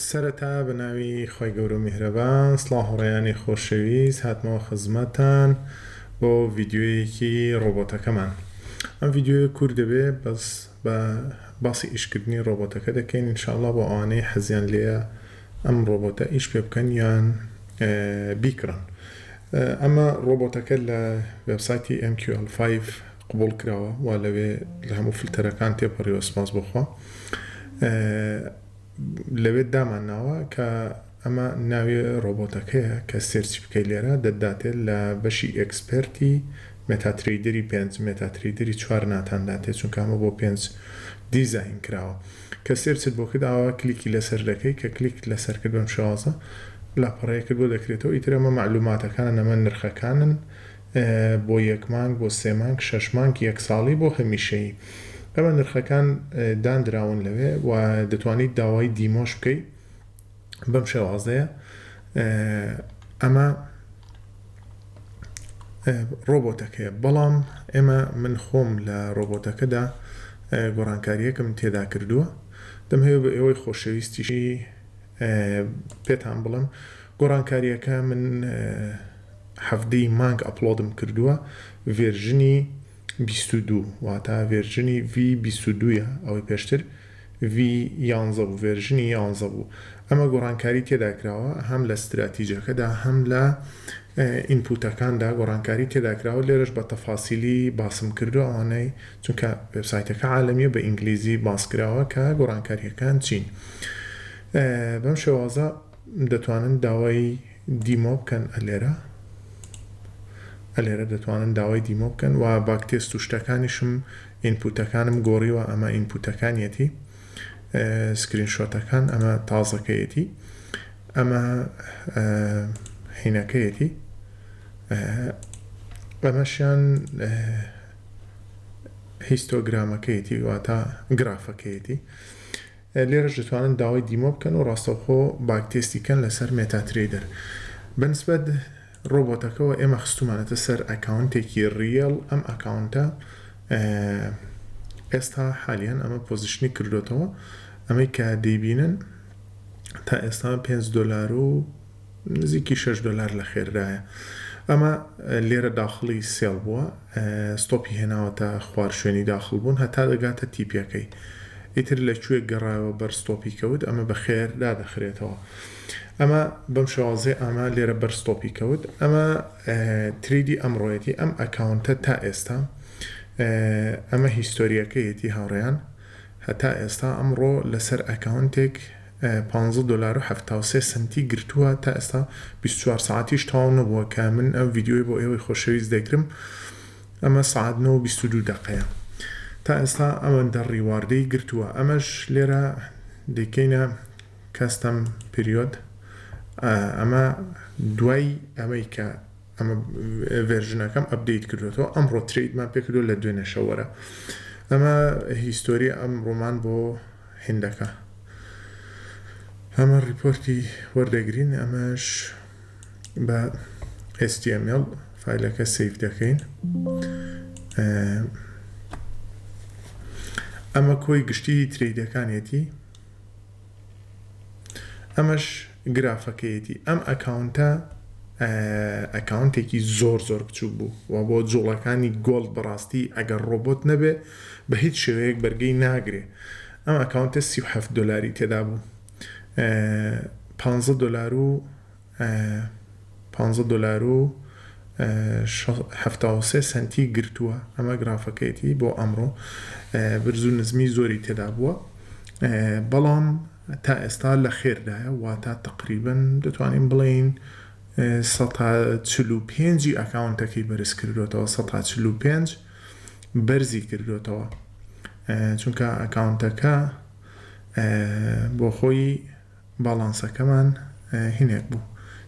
سەرەتا بە ناوی خوای گەورە و میهرەبان سڵاو هاوڕێیانی خۆشەویست هاتمەوە خزمەتان بۆ ڤیدیۆیەکی ڕۆبۆتەکەمان ئەم ڤیدیۆیە کور دەبێ بەس بە باسی ئیشکردنی ڕۆبۆتەکە دەکەین انشاءاللە بۆ ئەوانەی حەزیان لێە ئەم ڕۆبۆتە ئیش پێ بکەن یان بیکڕن ئەمە ڕۆبۆتەکە لە وێبسایتی MQL5 قبوڵ کراوە وا لەوێ لە هەموو فلتەرەکان تێپەڕیوە سپاس بۆ خوا لەوێ دامان ناوە کە ئەمە ناوێ ڕۆبۆتەکەیە کە سێرچ بکەی لێرە دەداتێت لە بەشی ئەکسپرتی مێتاتریدری پێنج مێتاتریدری چوار ناتان داتێت چون کامە بۆ پێنج دیزاین کراوە کە سێرچت بۆ کرد ئاوا کلیکی لەسەر دەکەی کە کلیک لەسەر کرد بەم شێوازە لاپەڕەیەکت بۆ دەکرێتەوە ئیتر ئەمە معلوماتەکانە نەمە نرخەکانن بۆ یەک مانگ بۆ سێ مانگ شەش مانگ یەک ساڵی بۆ هەمیشەیی ئەمە نرخەکان داندراون لەوێ و دەتوانیت داوای دیمۆش بکەی بەم شێوازەیە ئەمە ڕۆبۆتەکەیە بەڵام ئێمە من خۆم لە ڕۆبۆتەکەدا گۆڕانکاریەکم تێدا کردووە دەمهەوێ بە ئێوەی خۆشەویستیشی پێتان بڵم گۆڕانکاریەکە من حەڤدە ی مانگ ئەپڵۆدم کردووە ڤێرژنی بیست و دوو واتا ڤێرژنی V بیست و دوو ە ئەوەی پێشتر V یانزە بوو ڤێرژنی یانزە بوو ئەمە گۆڕانکاری تێدا کراوە هەم لە ستراتیجەکەدا هەم لە ئینپوتەکاندا گۆڕانکاری تێدا کراوە لێرەش بە تەفاسیلی باسم کردووە ئەوانەی چونکە وێبسایتەکە عالەمیە بە ئینگلیزی باس کراوە کە گۆڕانکاریەکان چین بەم شێوازە دەتوانن داوای دیمۆ بکەن ئەلێرە ئەلێرە دەتوانن داوای دیمۆ بکەن وە باک تێست و شتەکانیشم ئینپوتەکانم گۆڕیوە ئەمە ئینپوتەکانیەتی سکرین شۆتەکان ئەمە تازەکەیەتی ئەمە حینەکەیەتی ئەمەشیان هیستۆگرامەکەیەتی واتە گرافەکەیەتی لێرەش دەتوانن داوای دیمۆ بکەن و ڕاستەوخۆ باگ تێستی کەن لەسەر مێتا ترەیدەر بەنسبەت ڕۆبۆتەکەوە ئێمە خستومانەتە سەر ئەکاونتێکی ڕیێڵ ئەم ئەکاونتە ئێستا حالیەن ئەمە پۆزیشنی کردۆتەوە ئەمەی کە دەیبینن تا ئێستا پێنج دۆلارو نزیکی شەش دۆلار لە خێررایە ئەمە لێرە داخڵی سێڵ بووە ستۆپی هێناوەتە خوار شوێنی داخڵ بوون هەتا دەگاتە تیپەکەی ئیتر لە کوێ گەڕایەوە بەر ستۆپی کەوت ئەمە بە خێر دادەخرێتەوە ئەمە بەم شێوازەی ئەمە لێرە بەر ستۆپی کەوت ئەمە تریدی ئەمڕۆیەتی ئەم ئەکاونتە تا ئێستا ئەمە هیستۆریەکەیەتی هاوڕێیان هەتا ئێستا ئەمڕۆ لەسەر ئەکاونتێک پانزە دۆلار و حەفتا و سێ سەنتی گرتووە تا ئێستا بیست و چوار سەعاتیش تەواو نەبووە کە من ئەم ڤیدیۆی بۆ ئێوەی خۆشەویست دەیکرم ئەمە سەعات نۆ و بیست و دوو دەقەیە تا ئێستا ئەوەندە ڕیواردەی گرتووە ئەمەش لێرە دەیکەینە کەستەم پریۆد ئەمە دوای ئەمەی کە ئەمە ڤێرژنەکەم ئەپدەیت کردوێتەوە ئەمڕۆ تریدمان پێکردو لە دوێنێ شەوەرە ئەمە هیستۆری ئەم ڕۆمان بۆ هندەکە ئەمە ڕیپۆرتی وەردەگرین ئەمەش بە HTML فایلەکە سیف دەکەین ئەمە کۆی گشتی تریدەکانێتی ئەمەش گرافەکەیەتی ئەم ئەکاونتە ئەکاونتێکی زۆر زۆر بچوک بوو وە بۆ جوڵەکانی گۆڵد بەڕاستی ئەگەر ڕۆبۆت نەبێ بە هیچ شێوەیەک بەرگەی ناگرێ ئەم ئەکاونتە سی و حەفت دۆلاری تێدا بوو پانزە دۆلارو پانزە دۆلارو حەفتا و سێ سەنتی گرتووە ئەمە گرافەکەیەتی بۆ ئەمڕۆ برزو نزمی زۆری تێدا بووە بەڵام تا ئێستا لە خێردایە واتا تەقریبەن دەتوانین بڵێین سەد تا چل و پێنج ی ئەکاونتەکەی بەرز کردۆتەوە سەد تا چل و پێنج بەرزی کردۆتەوە چونکە ئەکاونتەکە بۆ خۆی باڵانسەکەمان هینێک بوو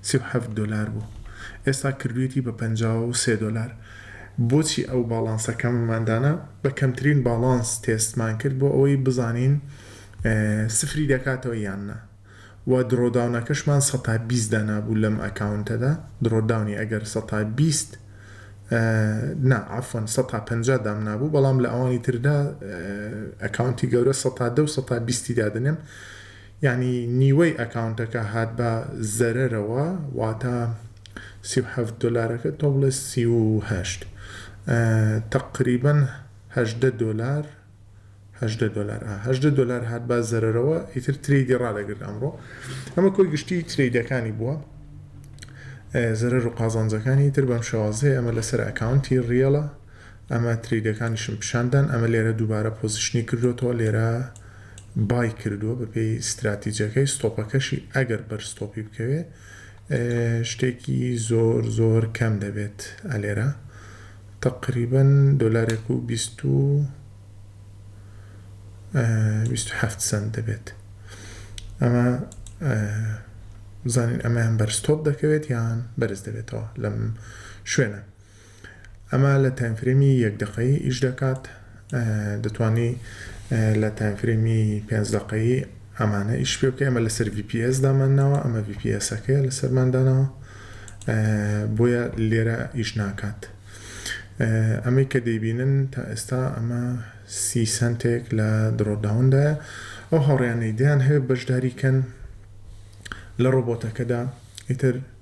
سی و حەفت دۆلار بوو ئێستا کردوێتی بە پەنجا و سێ دۆلار بۆچی ئەو باڵانسەکەمماندانە بە کەمترین باڵانس تێستمان کرد بۆ ئەوەی بزانین سفری دەکاتەوە یان نا وە درۆداونەکەشمان سەتا بیست دانابوو لەم ئەکاونتەدا درۆداونی ئەگەر سەتا بیست نا عەفوەن سەتا پەنجا دامنابوو بەڵام لە ئەوانی تردا ئەکاونتی گەورە سەتا دە و سەتا بیستی دادەنێم یانی نیوەی ئەکاونتەکە هات بە زەرەرەوە واتە سی و حەفت دۆلارەکە تۆ بڵێ سی و هەشت تەقریبەن هەژدە دۆلار هەژدە دۆلار ئا هەژدە دۆلار هات با زەرەرەوە ئیتر ترەیدی ڕادەگرت ئەمڕۆ ئەمە کۆی گشتی ترەیدەکانی بووە زەرەر و قازانجەکانی تر بەم شێوازەیە ئەمە لەسەر ئەکاونتی ڕیەڵە ئەمە ترەیدەکانیشم پیشاندان ئەمە لێرە دووبارە پۆزیشنی کردوێتەوە لێرە بای کردووە بەپێی استراتیجەکەی ستۆپەکەشی ئەگەر بەر ستۆپی بکەوێ شتێکی زۆر زۆر کەم دەبێت ئەلێرە تەقریبەن دۆلارێک و بیست و بیست و حەفت سەنت دەبێت ئەمە بزانین ئەمەیان بەرزتۆپ دەکەوێت یان بەرز دەبێتەوە لەم شوێنە ئەمە لە تایمفرێمی یەک دقەی ئیش دەکات دەتوانی لە تایم فرێمی پێنج دەقەیی ئەمانە ئیش پێ بکەی ئەمە لەسەر ڤی پی ئێس دامان ناوە ئەمە ڤی پی ئێسەکەیە لەسەرمان داناوە بۆیە لێرە ئیش ناکات ئەمەی کە دەیبینن تا ئێستا ئەمە سی سنتێک لە درۆداوندایە ئەو هاوڕیانەی دیان هەیە بەشداریکەن لە ڕۆبۆتەکەدا ئیتر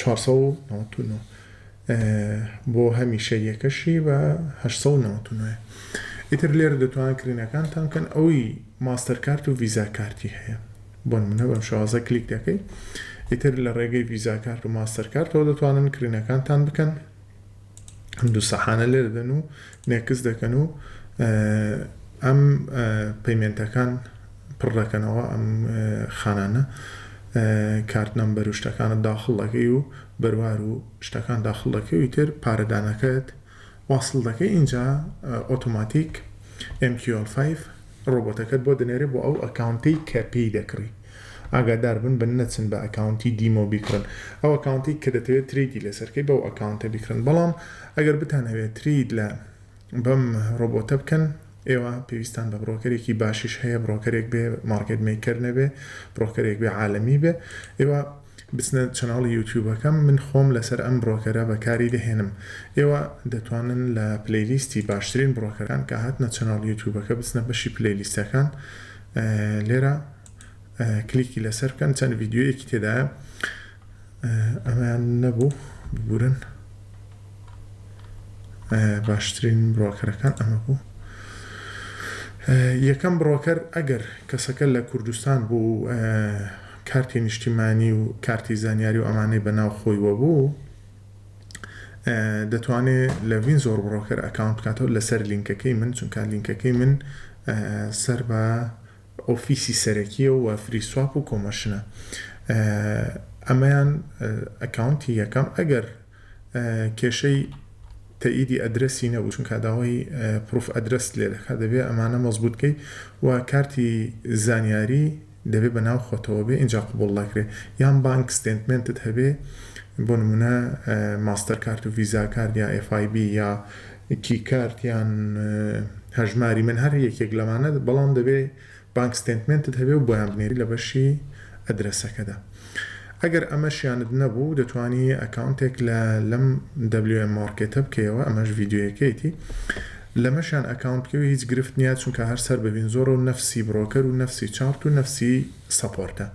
چوار سەد و نەوەد و نۆ بۆ هەمیشە یەکەشی بە هەشت سەد و نەوەد و نۆیە ئیتر لێرە دەتوان کرینەکانتان بکەن ئەوی ماستەر کارت و ڤیزا کارتی هەیە بۆن منە بەم شازە کلیک دەکەی ئیتر لە ڕێگەی ڤیزا کارت و ماستەر کارتەوە دەتوانن کرینەکانتان بکەن ئەم دوو سەحانە لێ دەدەن و مێکس دەکەن و ئەم پەیمێنتەکان پڕ دەکەنەوە ئەم خانانە کارت نەمبەر و شتەکانە داخڵ دەکەی و بەروار و شتەکان داخڵ دەکەی و تر پارەدانەکەت واصل دەکەی اینجا ئۆتۆماتیک MQL5 ڕۆبۆتەکەت بۆ دەنێرێ بۆ ئەو ئەکاونتەی کە پێی دەکڕی ئاگاداربن بە نەچن بە ئەکاونتی دیمۆ بیکڕن ئەو ئەکاونتەی کە دەتەوێت ترەیدی لەسەر کەی بەو ئەکاونتە بیکڕن بەڵام ئەگەر بتان هەوێت ترەید لە بەم ڕۆبۆتە بکەن ئێوە پێویستان بە بڕۆکەرێکی باشیش هەیە بڕۆکەرێک بێ مارکێت مەیکەر نەبێ بڕۆکەرێک بێ عالەمی بێ ئێوە بچنە چەناڵی یوتیوبەکەم من خۆم لەسەر ئەم برۆکەرە بەکاری دەهێنم ئێوە دەتوانن لە پلەیلیستی باشترین برۆکەران کە هاتنە چەناڵ یوتیوبەکە بچنە بەشی پلەیلیستەکان لێرە کلیکی لەسەر بکەن چەند ڤیددیوەیەکی تێدایە ئەمەیان نەبوو ببورن باشترین برۆکەرەکان ئەمە بوو یەکەم برۆکەر ئەگەر کەسەکە لە کوردستان بوو کارتی نیشتیمانی و کارتی زانیاری و ئەمانەی بە ناو خۆی وە بوو دەتوانێ لە ڤینزۆر بڕۆکەر ئەکاونت بکاتەوە لەسەر لینکەکەی من چونکە لینکەکەی من سەر بە ئۆفیسی سەرەکیە و فری سواب و کۆمەشنە ئەمەیان ئەکاونتی یەکەم ئەگەر کێشەی تەئیدی ئەدرەسی نەبوو چون کاداوای پرۆف ئەدرەست لێ دەکات دەبێت ئەمانە مەزبوتکەی و کارتی زانیاری دەبێ بە ناو خۆتەوە بێ ئینجا قبوڵ دەکرێ یان بانک ستێنتمێنتت هەبێ بۆ نمونە ماستەر کارت و ڤیزا کارت یا ئێف ئای بی یا کی کارت یان هەژماری من هەر یەکێک لەمانە بەڵام دەبێ بانک ستێنتمێنتت هەبێ و بۆیان بنێری لە بەشی ئەدرەسەکەدا. ئەگەر ئەمەشیانت نەبوو دەتوانی ئەکاونتێک لە لەم WM Market بکەیەوە ئەمەش ڤیدیۆیەکەیەتی لەمەشیان ئەکاونت بکەوی هیچ گرفت نیە چونکە هەر سەر ببین زۆرەو نەفسی برۆکەر و نەفسی چارت و نەفسی سەپۆرتە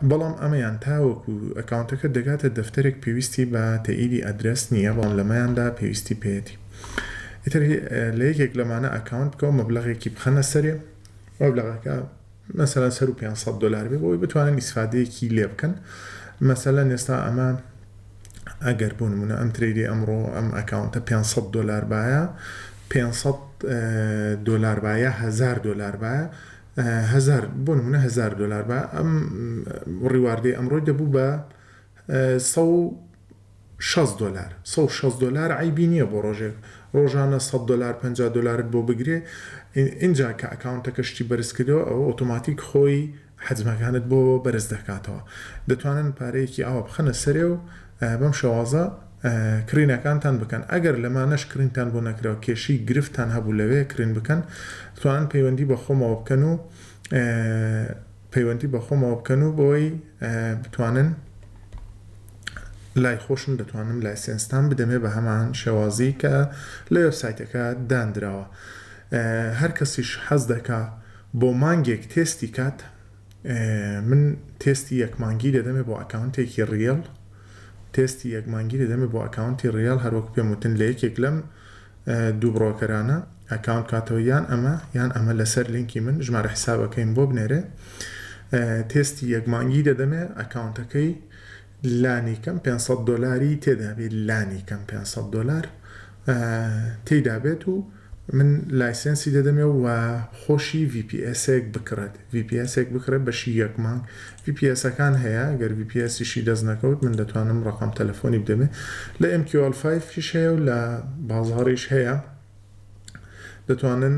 بەڵام ئەمەیان تاوەکو ئەکاونتەکەت دەگاتە دەفتەرێک پێویستی بە تەئیدی ئەدرەس نیە بەڵام لەمەیاندا پێویستی پێیەتی ئیتر لە یەکێک لەمانە ئەکاونت بکەوە مەبلەغێکی بخەنە سەرێ مەبلەغەکە مەسەلەن سەروو پێنج سەد دۆلار بێ بۆی بتوانن ئیسفادەیەکی لێ بکەن مەسەلەن ئێستا ئەمە ئەگەر بۆ نمونە ئەم تریدی ئەمڕۆ ئەم ئەکاونتە 500 دۆلار بایە 500 دۆلار بایە هزار دۆلار بایە هزار بۆ نمونە هزار دۆلار بە ئەم ڕیواردەی ئەمڕۆی دەبوو بە سە شەست دۆلار سەد و شەست دۆلار عەیبی نیە بۆ ڕۆژێک ڕۆژانە سەد دۆلار پەنجا دۆلارت بۆ بگرێ ئینجا کە ئەکاونتەکە شتی بەرز کردەوە ئەوە ئۆتۆماتیک خۆی حەجمەکانت بۆ بەرز دەکاتەوە دەتوانن پارەیەکی ئاوا بخەنە سەرێ و بەم شێوازە کڕینەکانتان بکەن ئەگەر لەمانەش کڕینتان بۆ نەکراو کێشەی گرفتتان هەبوو لەوێ کڕین بکەن دەتوانن پەیوەندی بە خۆمەوە بکەن و پەیوەندی بە خۆمەوە بکەن و بەوەی بتوانن لای خۆشم دەتوانم لایسێنستان بدەمێ بە هەمان شێوازی کە لە وێبسایتەکە داندراوە هەر کەسیش حەز دەکا بۆ مانگێک تێستی کات من تێستی یەک مانگی دەدەمێ بۆ ئەکاونتێکی ڕیەڵ تێستی یەک مانگی دەدەمێ بۆ ئەکاونتی ڕیال هەروەک پێم وتن لە یەکێک لەم دوو بڕۆکەرانە ئەکاونت بکاتەوە یان ئەمە یان ئەمە لەسەر لینکی من ژمارە حیسابەکەیم بۆ بنێرێ تێستی یەک مانگی دەدەمێ ئەکاونتەکەی لانی کەم 500 دلاری تێدابێت لانی کەم 500 دلار تێدا بێت و من لایسنسی دەدەمێ و خۆشی VPSێک بکڕێت VPSێک بکڕێت بەشی یەک مانگ VPSەکان هەیە گەر VPSیشی دەست نەکەوت من دەتوانم ڕقم تەلەفۆنی بدەمێ لە MQL5 فیش هەیە و لە بازاڕیش هەیە دەتوانن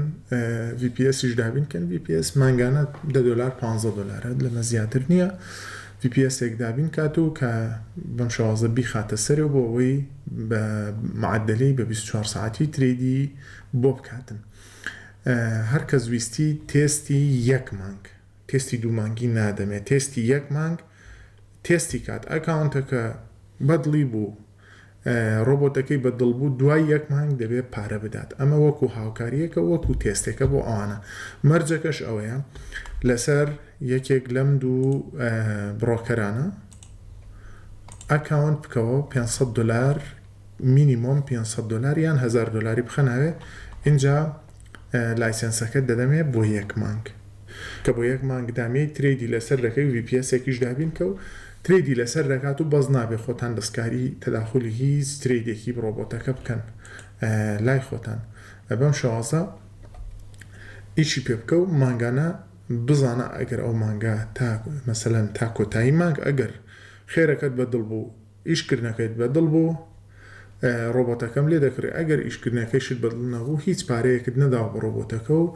ڤی پی ئێسیش دابین کەن ڤی پی ئێس مانگانە دە دۆلار پ دۆلارە لەمە زیاتر نییە ڤی پی ئێسێک دابین کات و کە بەم شازە بیخاتە سەر و بۆ ئەوەی بە معدلی بە 24 ساعتی تریدی بۆ بکاتن هەر کەس ویستی تێستی یەک مانگ تێستی دوو مانگی نادەمێت تێستی یەک مانگ تێستی کات ئەکاونتەکە بەدڵی بوو ڕۆبۆتەکەی بە دڵ بوو دوای یەک مانگ دەبێت پارە بدات ئەمە وەکو هاوکاریەکە وەکو تێستێکە بۆ ئەوانە مەرجەکەش ئەوەیە لەسەر یەکێک لەم دوو بڕۆکەرانە ئەکاونت بکەوە 500 دلار مینیمۆم 500 دلار یان 1000 دلاری بخەناوێ اینجا لایسێنسەکەت دەدەمێ بۆ یەک مانگ کە بۆ یەک مانگ دامێی ترەیدی لەسەر دەکەی وی پی ئێسێکیش دابین کە و ترەیدی لەسەر دەکات و بەس نابێ خۆتان دەستکاری تەداخولی هیچ ترەیدێکی بڕۆبۆتەکە بکەن لای خۆتان بەم شێوازە ئیشی پێ بکە و مانگانە بزانە ئەگەر ئەو مانگە تا مەسەلەن تا کۆتایی مانگ ئەگەر خێرەکەت بە دڵ بوو ئیشکردنەکەت بەدڵ بوو ڕۆبۆتەکەم لێ دەکڕی ئەگەر ئیشکردنەکەیشت بەدڵ نەبوو هیچ پارەیەکت نەداوە بە ڕۆبۆتەکە و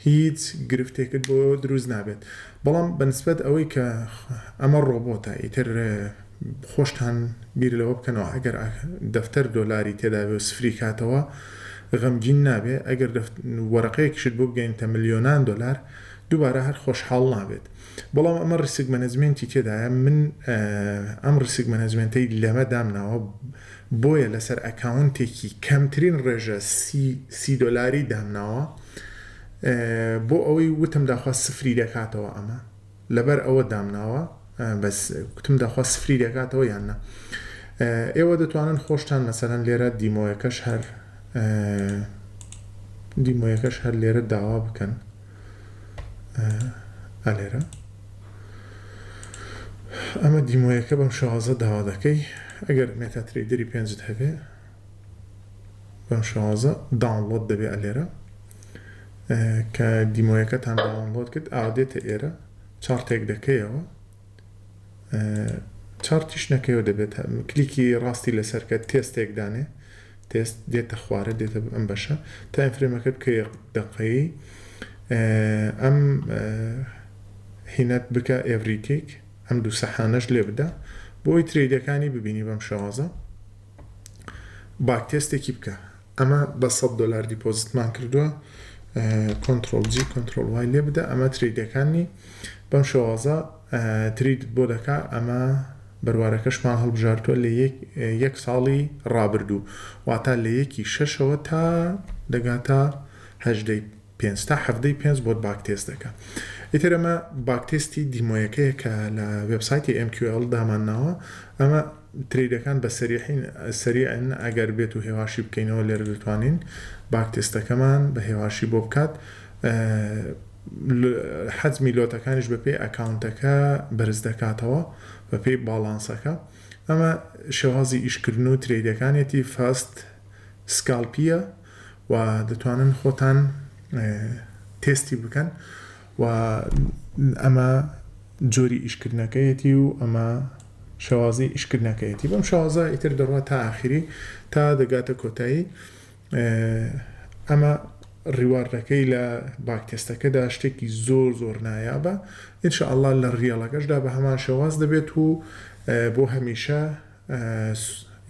هیچ گرفتێکت بۆ دروست نابێت بەڵام بە نسبەت ئەوەی کە ئەمە ڕۆبۆتە ئیتر خۆشتان بیر لەوە بکەنەوە ئەگەر دەفتەر دۆلاری تێدابێ و سفری کاتەوە غەمگین نابێ ئەگەر وەرەقەیەکیشت بۆ بگەینتە ملیۆنان دۆلار دووبارە هەر خۆشحاڵ نابێت بەڵام ئەمە ڕیسک مەنەجمێنتی تێدایە من ئەم ڕیسک مەنەجمێنتەی لەمە دامناوە بۆیە لەسەر ئەکاونتێکی کەمترین ڕێژە سی دۆلاری دامناوە بۆ ئەوەی وتم داخوا سفری دەکاتەوە ئەمە لەبەر ئەوە دامناوە بەس وتم داخوا سفری دەکاتەوە یاننا ئێوە دەتوانن خۆشتان مەسەرەن لێرە دیمۆیەکەش هەر دیمۆیەکەش هەر لێرە داوا بکەن ئەلێرە ئەمە دیمۆیەکە بەم شازە داوا دەکەی ئەگەر مێتا تریدری پێنجت هەبێ بەم شازە داونلۆد دەبێ ئەلێرە کە دیمۆیەکەتان داونلۆد کرد ئاودێتە ئێرە چاڕتێک دەکەیەوە چارتیش نەکەیەوە دەبێت کلیکی ڕاستی لەسەرکە تێستێک دانێ تێست دێتە خوارە دێتە ئەم بەشە تا ئەفرێمەکە بکەی دەقەی ئەم هینەت بکە ئێڤریتیک ئەم دوو سەحانەش لێ بدە بۆی تریدەکانی ببینی بەم شێوازە باک تێستێکی بکە ئەمە بە سەد دۆلار دیپۆزتمان کردووە کۆنتڕۆڵ جی کۆنتڕۆڵ وای لێ بدە ئەمە ترەیدەکانمی بەم شێوازە تریدت بۆ دەکا ئەمە بەروارەکەشمان هەڵبژاردووە لە یەک ساڵی ڕابردوو واتا لە یەکی شەشەوە تا دەگاتە هەژدەی پێنج تا حەڤدە ی پێنج بۆت باک تێست دەکا ئیتر ئەمە باک تێستی دیمۆیەکەیە کە لە وێب سایتی ئێم کیو ئێڵ دامان ناوە ئەمە ترەیدەکان بە سەریحین سەریعن ئەگەر بێت و هێواشی بکەینەوە لێرە دەتوانین باک تێستەکەمان بە هێواشی بۆ بکات حەجمی لۆتەکانیش بە پێی ئەکاونتەکە بەرز دەکاتەوە بە پێی باڵانسەکە ئەمە شێوازی ئیشکردن و ترەیدەکانێتی فاست سکالپیە و دەتوانن خۆتان تێستی بکەن و ئەمە جۆری ئیشکردنەکەیەتی و ئەمە شێوازی ئیشکردنەکەیەتی بەم شێوازە ئیتر دەڕوات تا ئاخری تا دەگاتە کۆتایی ئەمە ڕیواردەکەی لە باک تێستەکەدا شتێکی زۆر زۆر نایابە ئینشاءاللە لە ڕیەڵەکەشدا بە هەمان شێواز دەبێت و بۆ هەمیشە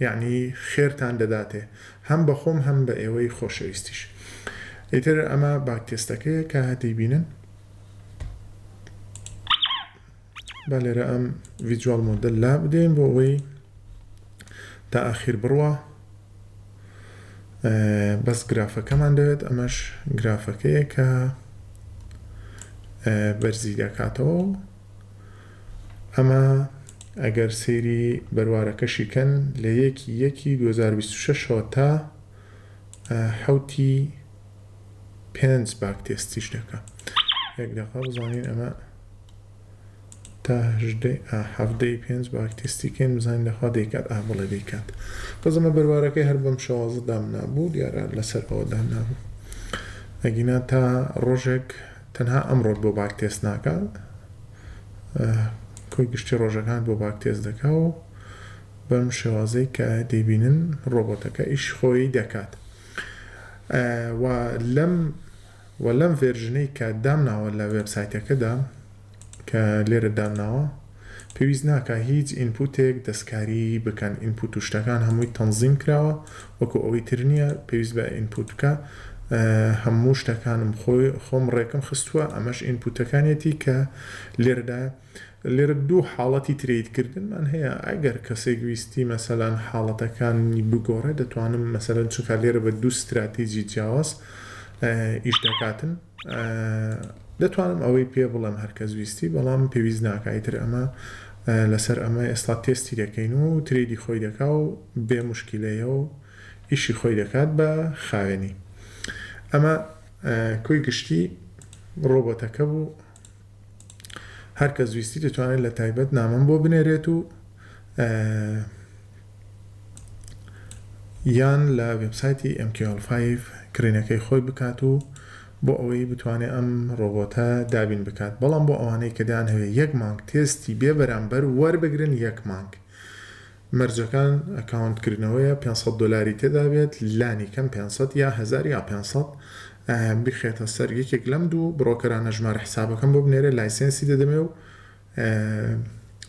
یەعنی خێرتان دەداتێ هەم بە خۆم هەم بە ئێوەی خۆشەویستیش ئیتر ئەمە باک تێستەکەیە کە دەیبینن با لێرە ئەم ڤیجوال مۆدل لا بدەین بۆ ئەوەی تا ئاخیر بڕوا بەس گرافەکەمان دەوێت ئەمەش گرافەکەیە کە بەرزی دەکاتەوە ئەمە ئەگەر سەیری بەروارەکەشی کەن لە یەک ی یەک ی دوو هەزار و بیست و شەش ەوە تا حەوت ی پێنج باک تێستیش دەکا یەک دەقە بزانین ئەمە تا حەڤدە ی پێنج باک تێستی کەین بزانین دەخوا دەیکات ئا بڵێ دەیکات بەس ئەمە بەروارەکەی هەر بەم شێوازە دامنابوو دیارە لەسەر ئەوە دانابوو ئەگینا تا ڕۆژێک تەنها ئەمڕۆت بۆ باک تێست ناکا کۆی گشتی ڕۆژەکانت بۆ باک تێست دەکا و بەم شێوازەی کە دەیبینن ڕۆبۆتەکە ئیش خۆی دەکات و لەم و لەم ڤێرژنەی کە دامناوە لە وێبسایتەکەدا کە لێرە دامناوە پێویست ناکا هیچ ئینپوتێک دەستکاریی بکەن ئینپوت و شتەکان هەمووی تەنزیم کراوە وەکو ئەوەی تر نییە پێویست بە ئینپوت بکا هەموو شتەکانم خۆی خۆم ڕێکم خستووە ئەمەش ئینپوتەکانیەتی کە لێرەدا لێرە دوو حاڵەتی ترەید کردنمان هەیە ئەگەر کەسێک ویستی مەسەلەن حاڵەتەکانی بگۆڕێ دەتوانم مەسەلەن چونکا لێرە بە دوو ستراتیجی جیاواز ئیش دەکاتن. دەتوانم ئەوەی پێ بڵێم هەرکەس ویستی بەڵام پێویست ناکا ئیتر ئەمە لەسەر ئەمە ئێستا تێستی دەکەین و ترێدی خۆی دەکا و بێ موشکیلەیە و ئیشی خۆی دەکات بە خاوێنی ئەمە کۆی گشتی ڕۆبۆتەکە بوو. هەر کەس ویستی دەتوانێت لە تایبەت نامەم بۆ بنێرێت و یان لە وێبسایتی MQL5 کرینەکەی خۆی بکات و بۆ ئەوەی بتوانێت ئەم ڕۆبۆتە دابین بکات بەڵام بۆ ئەوانەی کە دەیانهەوێت یەک مانگ تێستی بێ بەرامبەر وەربگرن یەک مانگ مەرجەکان ئەکاونت کردنەوەیە پێنج سەد دۆلاری تێدا بێت لانی کەم پێنج سەد یا هەزار یا پێنج سەد بیخێتە سەر یەکێک لەم دوو بڕۆکەرانە ژمارە حسابەکەم بۆ بنێرێ لایسێنسی دەدەمێ و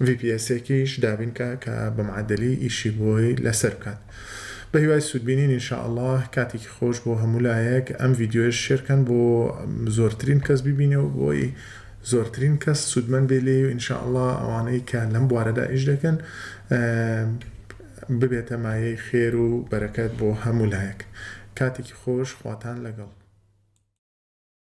VPS ێکیش دابینکە کە بە معدلی ئیشی بۆی لەسەر بکات بە هیوای سوودبینین ان شاء الله کاتێکی خۆش بۆ هەموو لایەک ئەم ڤیدیۆش شێرکەن بۆ زۆرترین کەس ببینێ و بۆی زۆرترین کەس سوودمەند بێ لێی و ان شاء اللە ئەوانەی کە لەم بوارەدا ئیش دەکەن ببێتە مایەی خێر و بەرەکەت بۆ هەموو لایەک کاتێکی خۆش خواتان لەگەڵ.